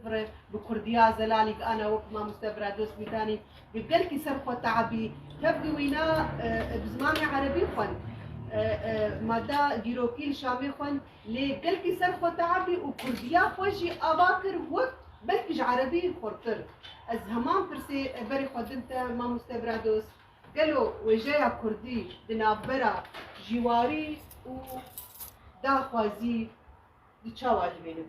Bire bi kurdiya Zelalî bi ana wek mamoste bira dost Mîtanî bi gelkî ser xwe te'ebî tev di wîna bi zimanê erebî xwend. Mada dîrokî li Şamê xwend lê gelkî ser xwe te'ebî û kurdiya xwe jî ava kir wek belkî ji erebî xurtir. Ez heman pirsê berê xwe din te mamoste bira dost gelo wêjeya kurdî di navbera jîwarî û daxwazî di çawa dibînin?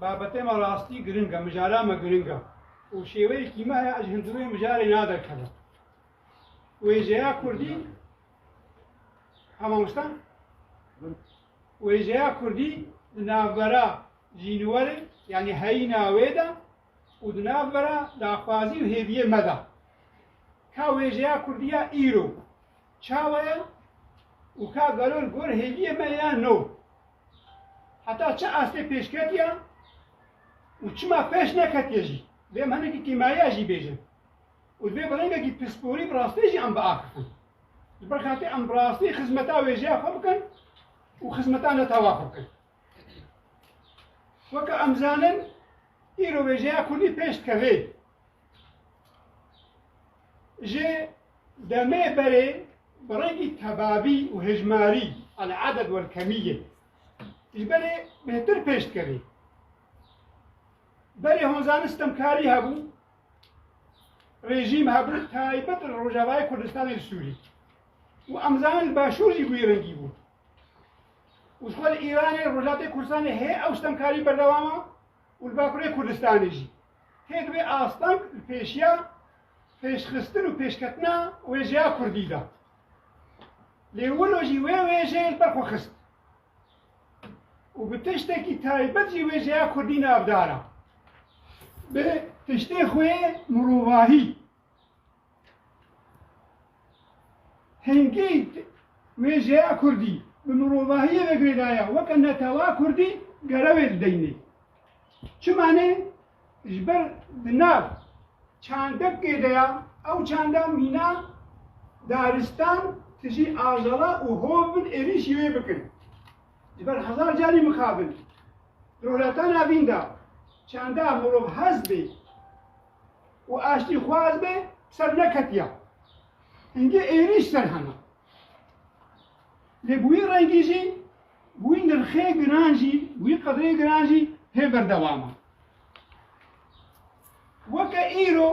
بابتê me rastî giring e, mijara me giring e û şêweyekî me heye ez ji hundirûyê mijarê naderkevim. Wêjeya Kurdî hema wisa wêjeya Kurdî di navbera jîniwerê yanî heyîna wê de û di navbera daxwazî û hêviyê me de. Ka wêjeya Kurdî ya îro çawa ye û ka gelo li gor hêviyê me ya no. Heta çi astê pêş ketiye û çima pêş neketiye jî dê em hinekî kêmariya jî bêjin û divê bi rengekî pisporî bi rastî jî em biaxifin. Ji ber xelkê em bi rastî xizmeta wêjeya xwe bikin û xizmeta netewa xwe bikin. Weke em zanin îro wêjeya kurdî pêş dike vê Ji demê berê bi rengî tebabî û hejmarî, el-aded wel-kemîyye, ji berê bêhtir pêş dikevê. Berê honzanî sitemkarî hebû, rejîm hebû taybet li Rojavayê Kurdistanê li Sûrî. û em zanin li Başûr jî wî rengî bû. û ji xwe li Îranê, Rojhilatê Kurdistanê hê ew sitemkarî berdewam e û li Bakurê Kurdistanê jî. Hêk vê asteng li pêşiya pêşxistin û pêşketina wêjeya kurdî de. Lê wilo jî wê wêjeyê li ber xwe xist û bi tiştekî taybet jî wêjeya kurdî navdara. Bi tiştê xwe mirovahî Hingî wê jeya kurdî bi mirovahiyê ve girêdaya weke netewa kurdî gerewê dideyne. Çima ne? Ji ber di nav çandekê de ya, ew çanda mîna daristan tijî ajala û hov bin êrîşî wê bikin. Ji ber hezar carî mixabin. Di roletana vîn de çanda mirov hez bê. û aştîxwaz be ser neketiya. Hingê êrîş ser hema. Lê bi wî rengî jî, bi wî nirxê giran jî, bi wî qedrê giran jî hê berdewam e. Weke îro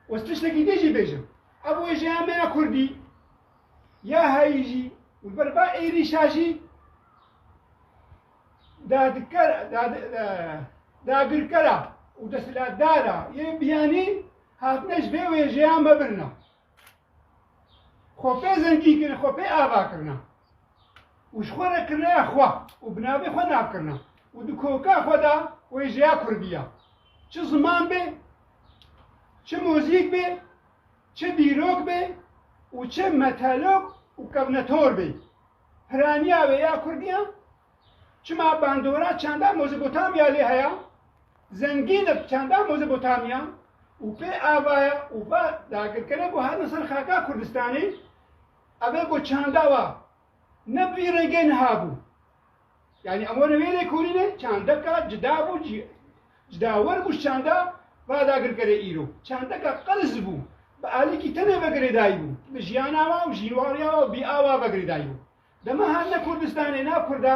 ez tiştekî din jî bêjim. Ev wêjeya me ya Kurdî ya heyî jî û li ber va êrîşa jî dagirkera û desthilatdara yên biyanî hatine ji vê wêjeyan ve birina. Xwe pê zengî kirin, xwe pê ava kirina û ji xwe re kirine ya xwe û bi navê xwe nav kirina û di koka xwe de wêjeya Kurdî ya. Çi ziman bê, çi muzîk bê, çi dîrok bê û çi metelok û kevnetor bê. piraniya wê ya kurdî ye, çima bandora çanda Mezopotamya lê heye, zengîn e bi çanda Mezopotamya û pê ava ye û va dagirkere ku hatin ser xaka Kurdistanê, ev ê ku çanda wa ne bi vî rengê niha bû. Yani em were vê lêkolînê çandeka cida bû cî cidawar bû ji çanda radagirkerê îro. Çandeka qerz bû. Bi alîkî tenê vegirêdayî bû. Bi jiyana wa û jînwariya wa û bîa wa vegirêdayî bû. Dema hatine Kurdistanê nav Kurda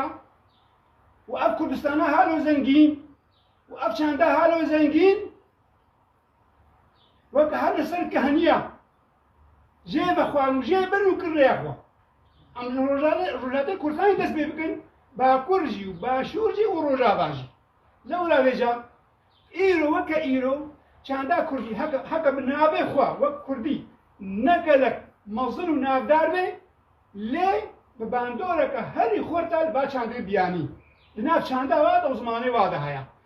û ev Kurdistana halo zengîn û ev çanda halo zengîn Weke her li ser keheniya jê vexwar û jê bir û kir rêya xwe. Em li Rojavê Rojavê Kurdistanê dest pê bikin, Bakur jî û Başûr jî û Rojava jî. Lewra vêca îro weke îro çanda Kurdî heke heke bi navê xwe wek Kurdî ne gelek mezin û navdar be lê bi bandoreke herî xurta li ba çandê biyanî. Di nav çanda wa de û zimanê wa de heye.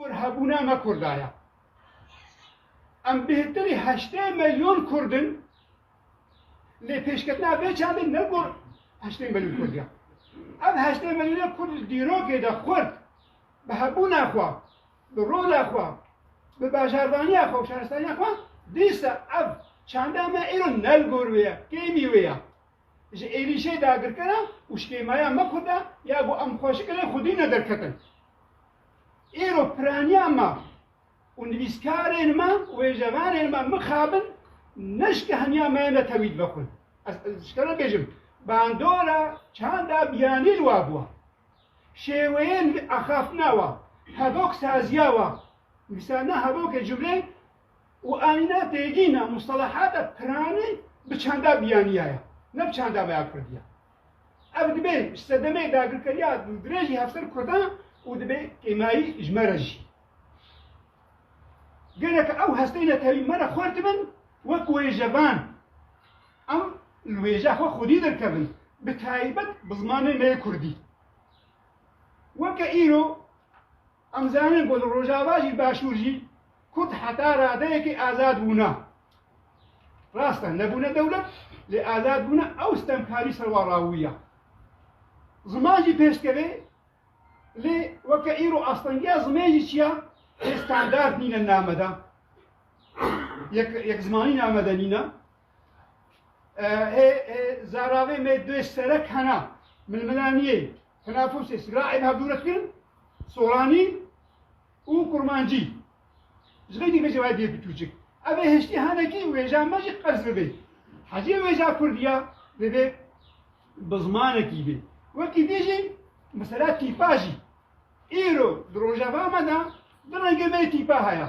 Kur hebûna me Kurda ye. Em bêhtirî heştê melyon Kurd in lê pêşketina vê çandê ne gor heştê melyon Kurd ye. Ev heştê melyonê Kurd li dîrokê de xurt bi hebûna xwe, bi rola xwe, bi bajarvaniya xwe û şaristaniya xwe dîsa ev çanda me îro ne li gor wê ye, kêmî wê ye. Ji êrîşê dagirkera û şkêmaya me Kurda ya ku em xwe ji ilê xwedî ne derketin. Îro piraniya me û nivîskarên me û êjevanên me mixabin ne ji kehaniya me ne tewî dibe xwe. Ez ji te re bêjim bandora çanda biyanî li wa bûwa. Şêweyên axaftina wa, hevok saziya wa, wisa ne hevokê cumleyê û ayna têgîna mustelahata piranî bi çanda bîyaniya ye, ne bi çanda veya kurdî ye. Ev dibe ji sedemê dagirkeriya dirêjî hevser kurdan û dibe kêmayî ji me re jî. Gelek ew hestên netewî me re xurt dibin wek wêjevan. Em li wêja xwe xwedî derkevin, bi taybet bi zimanê me yê kurdî. Weke îro, Em zanîn ku li Rojava jî Başûr jî Kurd heta radeyekê azad bûne. Rast e nebûne dewlet lê azad bûne ew stemkarî ser wan rawûye. Ziman jî pêş dikeve lê weke îro astengiya zimên jî çiya lê standard nîne name de. Yek yekzimanî name de nîne. Hê zaravê me dê serek hena milmilaniyê Tenafusê sîlaê bi hevdûrekirin, soranî û kurmancî. Ji xeylî me jî wayê bîyê bi tûcik. Ev ê hiştî henekî wêja me jî qers bibê. Hecê wêja kurdî ya divê bi zimanekî bê. Wekî dî jî mesela tîpa jî. Îro di rojeva me de du rengê me yê tîpa heye.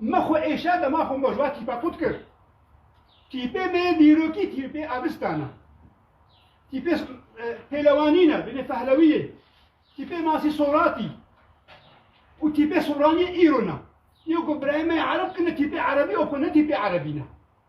Me xwe êşa dema xwe mojva tîpa kût kir. Tîpê bê dîrokî tîpê abistan e. Tîpê pêlewanîn e, binê fehlewiyê. Tîpê masî soratî. Û tîpê soranî îro ne. Yê ku birayê me ereb kine tîpê erebî o ku ne tîpê erebî ne.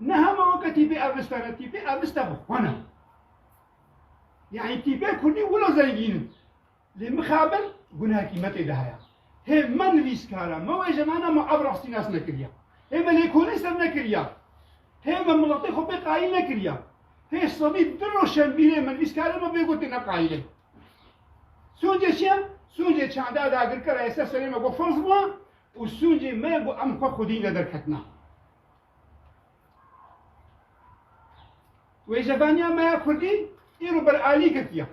Ne hema weke tîpê ev viste re, tîpê ev viste bi xwe ne. Yanî tîpê Kurdî wilo zengîn in. Lê mixabin guneha kîmetê de heye. Hê me nivîskar e, me wêje me ne, me ev rastî nas nekiriye. Hê me lêkolîn ser nekiriye. Hê me miletê xwe pê qayîl nekiriye. Hê sedî du roşenbîrê me nivîskarê me bê gotê ne qayîl e. Sûncê çi ye? Sûncê çanda dagirkera yê ser serê me got ferz bû û sûncê me ye got em xwe xwedî nederketina. Wêjebaniya me ya Kurdî îro ber alî girtiye.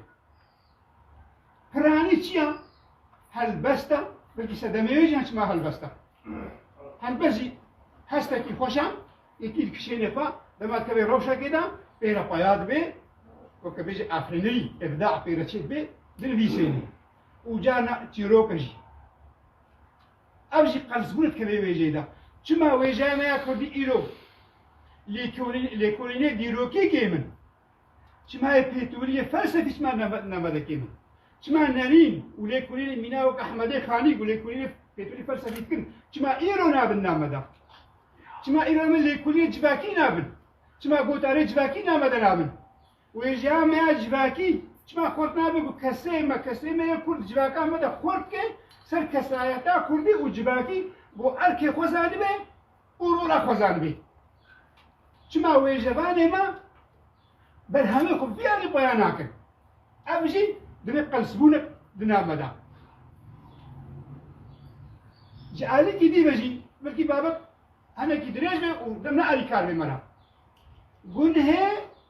Piranî çiya helbesta, belkî sedemê wê jî çima helbesta. Helbest jî hestekî xweş e, yekî dikişêne xwe, dema dikeve rewşekê de pêre xwe ya dibe, weke bêje efrînî, îbda pêre çê dibe, dinivîsêne. Û carna çîroke jî. Ev jî qebzbûn dike vê wêjeyê de. Çima wêjeya me ya kurdî îro lêkolînê dîrokî kêm in? Çima yê pêtûrî yê felsefî çima navbede kêm in? Çima Nerîn û lêkolînê mîna wek Ehmedê Xanî ku lêkolînê pêtûrî felsefî dikin çima îro nabin navbede? Çima îro em ê lêkolînê civakî nabin? Çima gotarê civakî navbede nabin? Wê jiya me ya civakî çima xort nabe ku keseyê me, keseyê me yê Kurd civaka me de xort bike ser kesayeta Kurdî û civakî bo erkê xwe zanibe û rola xwe zanibe. Çima wêjevanê me berhemê xwe biyane paya nakin. Ev jî divê qelsbûnek di nav me de. Ji alîkî dî ve jî belkî babet henekî dirêj be û dem ne alîkar bê me re. Gunhê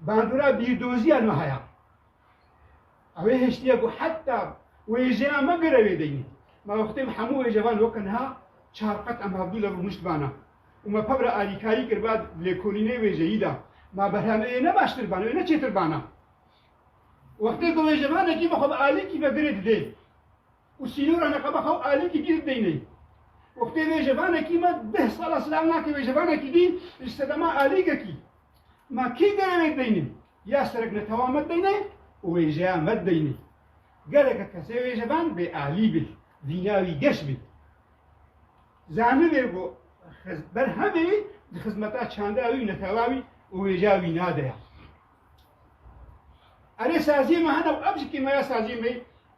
bandora bîrdoziya niha ya. Ew ê hiştiye ku heta wêjeya me gire wê deyî. Ma wextê me hemû wêjevan weke niha çar qet em havdû li rûnişt bana. Û me pevra alîkarî kir ba lêkolînê wêjeyî da. Ma berhemê wê ne baştir bana, wê ne çêtir bana. Wextê ku wêjevanekî me xwe bi alîkî ve girê didê. û sînora neqeba xwe û alîkî dî bideyne. Wextê vêjevanekî me deh sala silav nake vêjevanekî dî ji sedema alîgekî. Ma kî gere wê dibeyne? Ya serek netewa me dibeyne û wêjeya me dibeyne. Geleke kesê vêjevan bê alî be, vîna wî geş be. Zanibê ku berhemê wî di xizmeta çanda wî û netewa wî û wêjeya wî na de ye. Erê saziyê me hene û ev jî kêmeya saziyê me ye.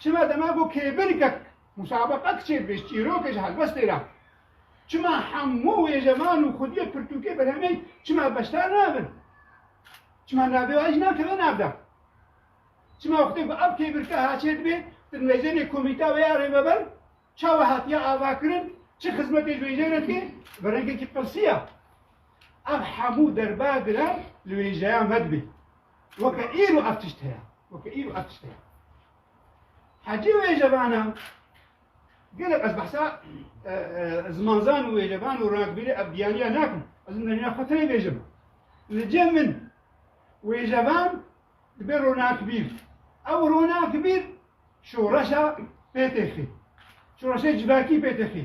Çima dema ku kêbirkek musabeqek çêbêj çîrokê ji helbestê re çima hemû wêjevan û xwediyê pirtûkê berhemê çima beşdar nabin? Çima navê wê jî nakeve navda? Çima wextê ku ev kêbirke haçê dibê di nêzênê komîta wê ya rêveber çawa hatiye avakirin çi xizmetê ji wêjeyê re dike bi rengekî qirsiya. Ev hemû derba giran li wêjeyan vedibê. Weke îro ev tişt heye. Weke îro ev tişt heye. Hecî wêjevana gelek ez behsa e, e, zimanzan û wêjevan û ragbîrê ev biyaniya nakim. Ez min derîna xwe tenê bêjim. Li cem min wêjevan dibe ronakbîr. Ew ronakbîr şoreşa pêtêxî. Şoreşê civakî pêtêxî.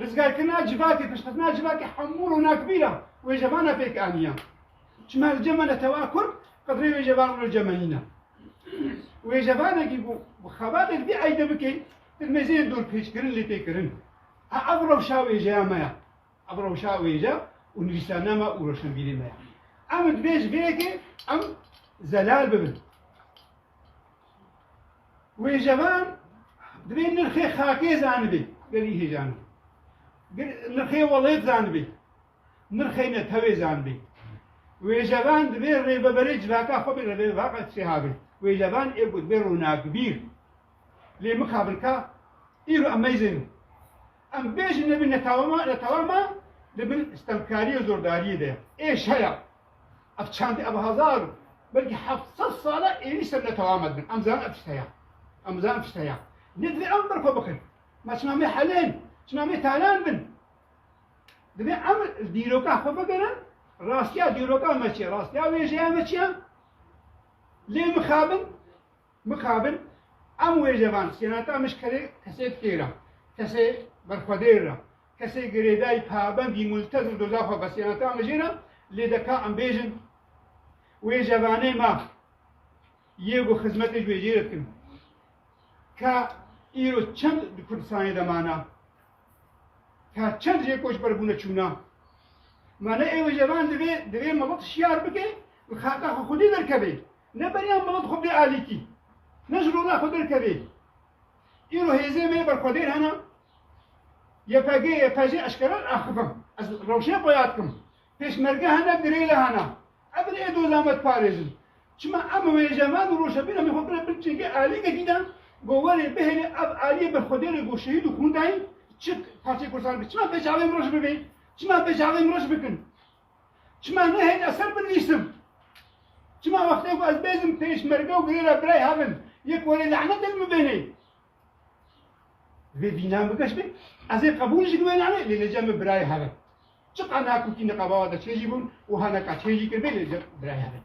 Rizgarkirina civakê, piştxistina civakê hemû ronakbîran wêjevana pêk aniyan. Çima li cem e netewa kurd qedrê wêjevan wilo cem e nîne. Wêjevanekî ku bi xebatê divî eyde bikê, di mêzeyên dorpêçkirin lê tê kirin. Ev rewşa wêjeya me ye. Ev rewşa wêje û nivîsane me û roşnvîrê me ye. Em divê ji vê yekê em zelal bibin. Wêjevan divê nirxê xakê zanibê, gerî hêjane. Nirxê welêt zanibê. Nirxê netewê zanibê. Wêjevan divê rêveberê civaka xwe bê rêvevaka çêha bê. Wêjevan ê ku divê ronakbîr. Lê mixabirka îro em meyzêne. Em bêjin ne bi netawama netawama di bin stemkariyê zordariyê de ye. Ê şeya ev çandê ev hezar û belkî heft sed sala êrîş ser netawama dibin. Em zanin ev tişt heye. Em zanin ev tişt heye. Lê divê em birxwe bikin. Ma çima me helên, çima me talan bin. Divê em dîroka xwe bigirin, rastiya dîroka me çi ye, rastiya wêjeya me çi ye? Lê mixabin Mixabin em wêjevan sênata mij kerê kesê dikê ra, kesê berxwedêr ra, kesê girêdayî pabendî multezim doza xwe be sênata mijê ra lê deka em bêjin wêjevanê ma yê ku xizmetê ji wê jê re dikin ka îro çend di Kurdistanê de mana ka çend jê koçber bûne çûna ma ne ê wêjevan divê divê milet şiyar bike û xata xwe xwedî derkeve. Ne beriya mala dixwe bê alîtî, ne ji rola xwe derkevê. Îro hêzê me ber xwedêr hene, YPG, YPJ eşkera axivim. Ez rewşê xwe yad dikim. Pêşmerge hene, girêla hene. Ev bin ê doza me diparêzin. Çima em wêje me û rojevîna me xwe bine bin çêkê alîtekî de ku werê bihêle ev alîyê ber xwedêrê ku şehîd û xûn dayîn çi parçeyê Kurdistanê bê. Çima bê çavên min re ji bin bê? Çima bê çavên min re ji bin kin? Çima nehêlî eser binivîsim? Çima wextê ku ez bêzim pêşmerge û girêra birayê hev in, yek welê lanet li min bênê? Divê bînan bike ji min, ez ê qebûl jî bime nanê lê lêca min birayê hev in. Çiqas nakokî niqaba wada çê jî bûn û ha neka çê jî kir bê lêca birayê hev in.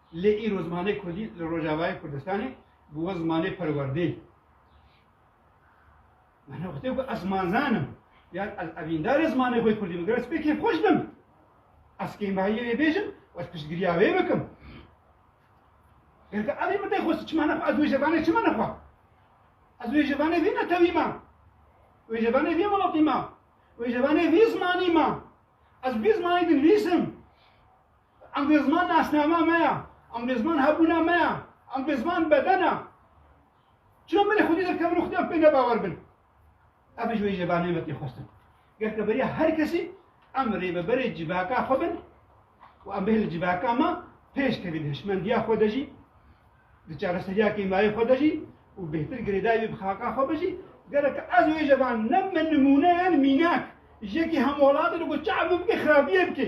Lê îro zimanê kurdî li Rojavayê Kurdistanê bûwe zimanê perwerdê. Min wextê ku ez zimanzan im yan ez evîndarê zimanê xwe kurdî min gere ez pê kêfxweş bim. Ez kêmahiyê wê bêjim û ez piştgiriya wê bikim. Gelka evî min nexwest çima nexwe ez wê jevanê çima nexwe? Ez wê jevanê vî netewî ma. Wê jevanê vî welatî ma. Wê jevanê vî zimanî ma. Ez vî zimanî dinivîsim. Em dê ziman nasnama me ya. Em dê ziman hebûna me ya. Em dê ziman bedena. Çira me lê xwedî derkevin û xwedîyan pê nebawer bin. Ev ji wê jêvanê me tê xwestin. Ger ke beriya her kesî em rêveberê civaka xwe bin û em bêhna civaka me pêş kevin hişmendiya xwe de jî di çareseriya kêmayê xwe de jî û bêhtir girêdayî wî bi xaka xwe bijî gerek ez wê jevan ne min nimûneyan mînak jekî hemwelatê li ku çav min bikê xirabiyê bikê.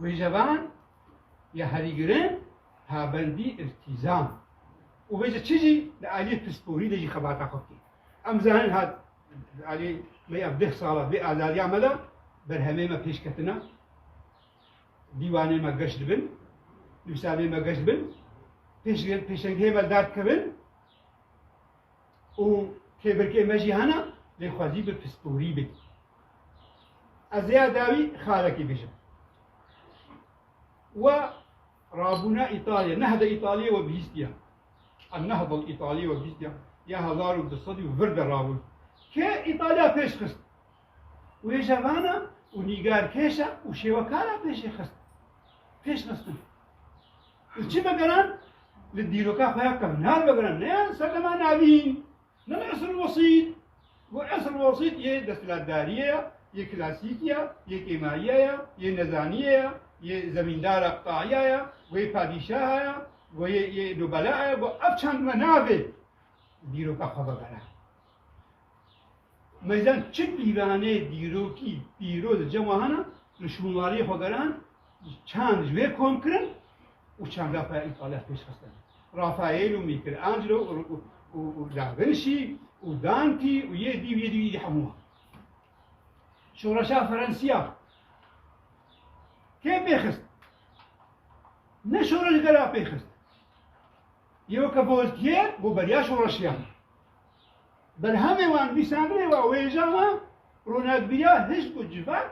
Wêjevan ya herî girin pabendî îltîzam û wêje çi jî li aliyê pisporî de jî xebata xwe bikê. Em zanin ha aliyê me ya deh sala vê azadiya me de berhemê me pêş ketine, dîwanê me geş dibin, nivîsavê me geş dibin, pêşengehê me li dar dikevin, û kêbirkê me jî hene lê xwezî bi pisporî bê. Ez ê dawî xalekî bijim. We rabûna Îtalya, nehda Îtalyayê we bihîstiya. Em nehda Îtalyayê we bihîstiya. Ya hezar û du sed û vir de rabûn. Ke Îtalya pêş xist. Wêjevana û nîgarkêşa û şêwekara pêşê xist. Pêş xistin. Li çi vegeran? Li dîroka xwe ya kevnar vegeran. Ne serdema navîn, ne li esr wesît. Bu esr wesît yê desthilatdariyê ya, yê klasîkî ya, yê kêmariya ya, yê nezaniyê ya, yê zemîndara qutaiya ya, wê padîşaha ya, wê yê nobela ya, wê ev çend me navê dîroka xwe vegeran. Meydan çi pîranê dîrokî pîroz cem hana li şûnwariyê xwe geran Çend ji wê kom kirin û çend Rafael Italev pêş xistin. Rafael û Michelangelo û Da Vinci û Dante û yê dî û yê dî û yê dî hemû wan. Şoreşa Ferensiya kê pêxist? Ne şoreşgera pêxist. Yew ke Bozkiyê bo beriya şoreşiya me. Berhemê wan nûsanirê wa wêja ma ronakbîriya hizb û civak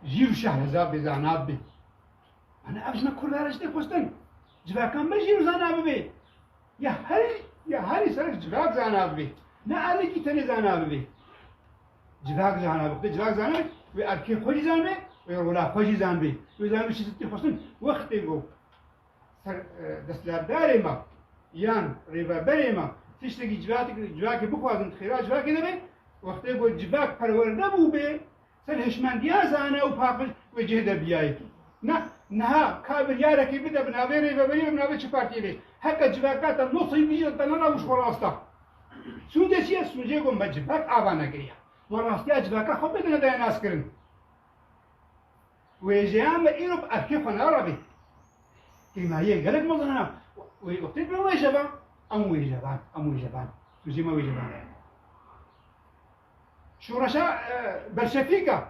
jî û şehreza bê zana bibe. Ana ev ji me kurda re ji tê xwestin. Civakan me jî û zana bibe. Ya her ya herî serek civak zana bibe. Ne erikî tenê zana bibe. Civak zana bibe. Civak zana bibe. Wê erkê xwe jî zanbe, wê rola xwe jî zanbe. Wê zanbe çi ji tê xwestin. Wextê ku desthilatdarê me yan rêveberê me tiştekî civakê bixwazin xêra civakê nebe wextê ku civak perwerde bûbê ser hişmendiya zane û paqij wê cihê de biyayê ne niha ka biryarekê bide bi navê rêveberî bi navê çi partiyê bê heke civaka te no sey bî te nana û ji xwe rasta sûcê çi ye sûcê ku me civak ava negiriya me rastiya civaka xwe bidine daya naskirin Wêjeya me îro bi erkê xwe narabe. Tênayî ye gelek mezin hene û wê wextê pê wêje be. Em wêje ben, em wêje ben. Tu jê me wêje ben re. Şoreşa Belşevîk a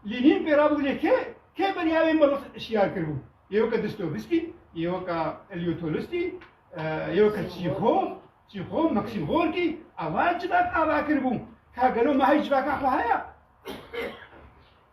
Lînîn pê rabû lê kê kê beriya wê milet şiyar kiribû? Yê weke Distowîskî, yê weke Elîo Tolistî, yê weke Çîxo, Çîxo, Maksîm Gorkî, ava civak ava kiribû. Ka gelo me heyî civakan xwe heye?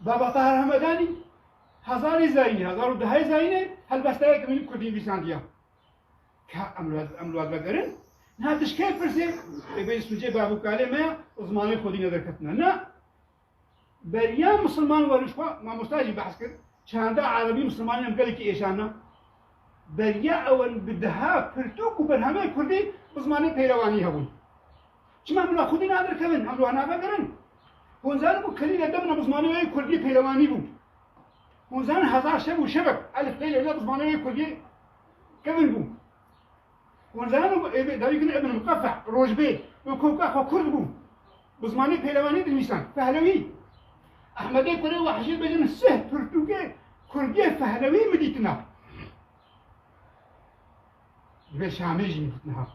Baba Tahir Hemedanî hezarê zayînê, hezar û dehê zayînê helbesteyek min kurdî nivîsandiya. Ka em li wan vegerin, niha tu ji kê pirsê ê bê sûcê bavûkalê me ya û zimanê xwedî ne derketine. Na, beriya misilman werin ji xwe, mamosta jî behs kir, çanda erebî misilmanî em gelekî êşana. beriya ew in bi deha pirtûk û berhemên kurdî bi zimanê peyrewanî hebûn. Çima em bila xwedî nadirkevin, em li wan navegerin? Hûn zanin ku kelîna dem ne bi zimanê wê kurdî peyrewanî bû. Hûn zanin hezar şev û şevek elifbê lê ne bi zimanê wê kurdî kevin bû. Wan zana ku ev ê dawî gule Ibn Muqefe'e, rojbê, wê ku ka xwe kurd bû, bi zimanê pêlevanî dinivîsan, Fehlewî. Ehmedê kurê Wehjî bêjin sih pirtûkê kurdiyê Fehlewî min dîtina. Divê Şamê jî min dîtina.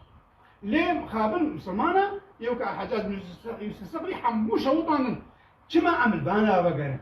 Lê mixabin misilman e, yew ka Heccac bin Yûsuf Siqrî hemû şewitandin. Çima em li bana vegerin?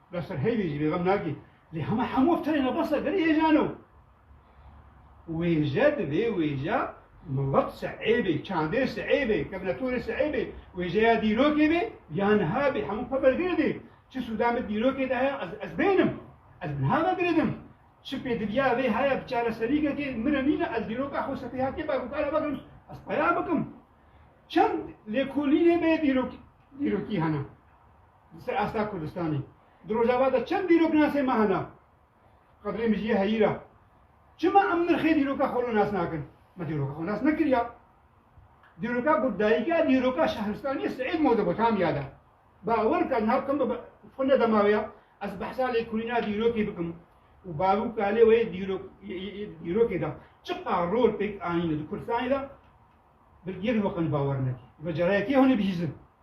Bes ser heyvê jî bêxem nakî. Lê hema hemû ev tenê nebasa gerî hêjan o. Wêje di vê wêja milet si'ê bê, çandê si'ê bê, kevnetorê si'ê bê, wêjeya dîrokê bê ya niha bê hemû xwe vegirdê. Çi sûda min dîrokê de heye ez ez bênim. Ez niha vegiridim. Çi pêdiviya vê heye bi çareserîkekê min re nîne ez dîroka xwe sefêhatiyê bê bikare vegirim ez peya bikim. Çend lêkolînê bê dîrok dîrokî hene. Di ser asta Kurdistanê di Rojava de çend dîrok nasê me hene? Qedrê mijiyê heyîr e. Çima em nirxê dîroka xwe li nas nakin? Me dîroka xwe nas nekiriya. Dîroka ku dayika dîroka şehristaniyê Seîd Mezopotamya de. Bawer ka niha kim bi xwe nedemawe ya ez behsa lê kurîna dîrokê bikim. û bavû kalê wê dîrokê de çiqa rol pêk anîne di Kurdistanê de bir yek hoqin bawer nekir. Ve carayekê hûnê bihîzin.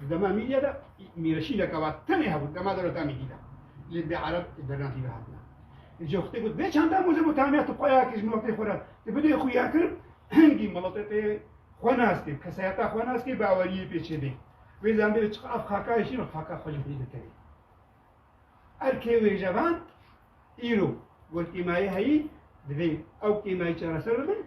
Di dema mîdya de mîreşîneke wa tenê hebû di dema dewleta mîdî de. Lê bê ereb ê bernatî ve hatine. Încî xwitê got bê çanda Mozopotamiya tu payakî ji miletê xwe re tu bidê xuyakirin hingî miletê xwe nas kir, kesayeta xwe nas kir baweriyê pê çêbê. Wê zanibê çi ev xakayê şîn xaka xwe ji xwî dikerê. Erkê wê jevan îro got kêmayê heyî divê ew kêmayî çareser bibin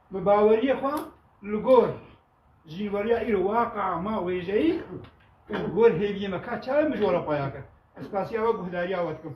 Bi baweriyê xwe li gor jînweriya îro waqia ma wêjeyî û li gor hêviyê me ka çawe mijwara paya kir. Ez qasî ew e guhdariya we dikim.